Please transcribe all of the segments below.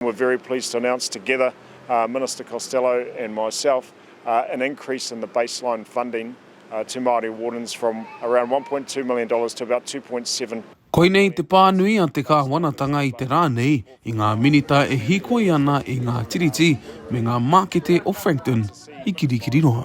We're very pleased to announce together, Minister Costello and myself, an increase in the baseline funding to Māori Wardens from around one point two million dollars to about two point seven. Koinei te pānui a te Kāwanatanga i te rā nei i ngā Minita e hīkoi ana i ngā tiriti me ngā mākete o Frankton i Kirikiriroa.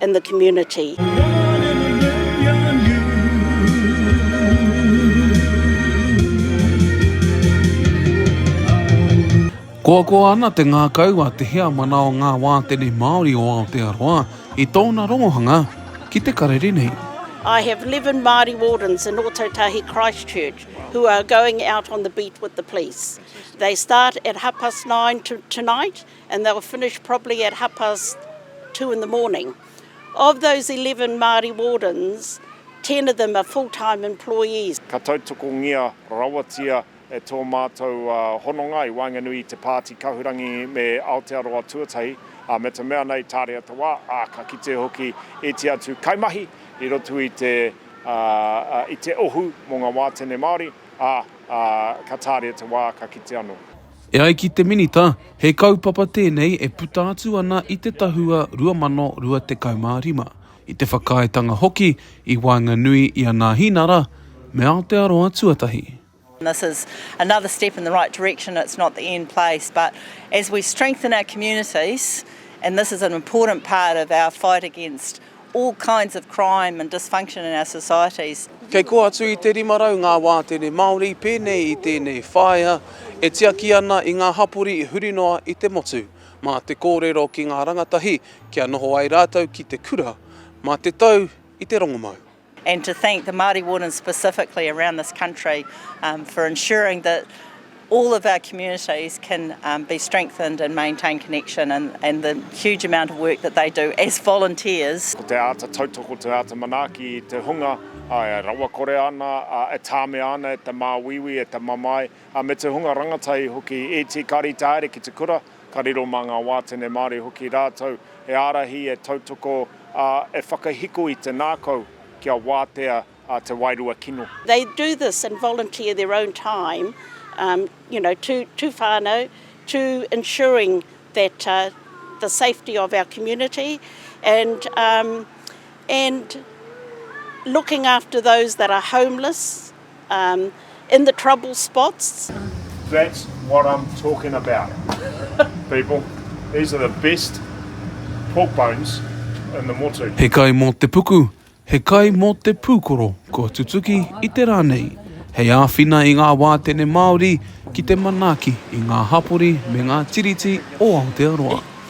and the community. Koakoa ana te ngākau a Te Heamana o ngā Wātene Māori o Aotearoa i tōna rongohanga ki te karere nei. I have 11 Māori wardens in Ōtautahi Christchurch who are going out on the beat with the police. They start at half past nine tonight and they were finished probably at half past two in the morning. Of those 11 Māori wardens, 10 of them are full-time employees. Ka tautokongia rawatia e tō mātou hononga i waenganui i te Pāti Kahurangi me Aotearoa tuatahi, ā, me te mea nei tāria te wā, ā, ka kite hoki iti atu kaimahi i roto i te, i te ohu mō ngā wātene Māori, ā, ā, ka tāria te wā, ka kite anō. E ai ki te Minita, he kaupapa tēnei e puta atu ana i te Tahua 2025, i te whakaaetanga hoki i waenganui i a Nāhinara me Aotearoa tuatahi. This is another step in the right direction, it's not the end place but as we strengthen our communities and this is an important part of our fight against all kinds of crime and dysfunction in our societies. Kei kō atu i te 500 ngā wātene Māori pēnei i tēnei whāea e tiaki ana i ngā hapori huri noa i te motu. Mā te kōrero ki ngā rangatahi kia noho ai rātou ki te kura, mā te tau i te rongomau. And to thank the Māori Wardens specifically around this country for ensuring that all of our communities can be strengthened and maintain connection and the huge amount of work that they do as volunteers. Ko te āta tautoko, te āta manaaki i te hunga, e rawakore ana, e tāmea ana e te māuiui, e te mamae, ā, me te hunga rangatahi hoki i tīkari tāere ki te kura, ka riro mā ngā wātene Māori hoki rātou e ārahi, e tautoko, ā, e whakahiko i te ngākau kia wātea te wairua kino. They do this and volunteer their own time, you know, to to whānau, to ensuring that the safety of our community and and looking after those that are homeless. Um in the trouble spots. That's what I'm talking about people, these are the best pork bones in the motu. He kai mō te puku, he kai mō te pūkoro kua tutuki i te rā nei hei āwhina i ngā wātene Māori ki te manaaki i ngā hapori me ngā tiriti o Aotearoa.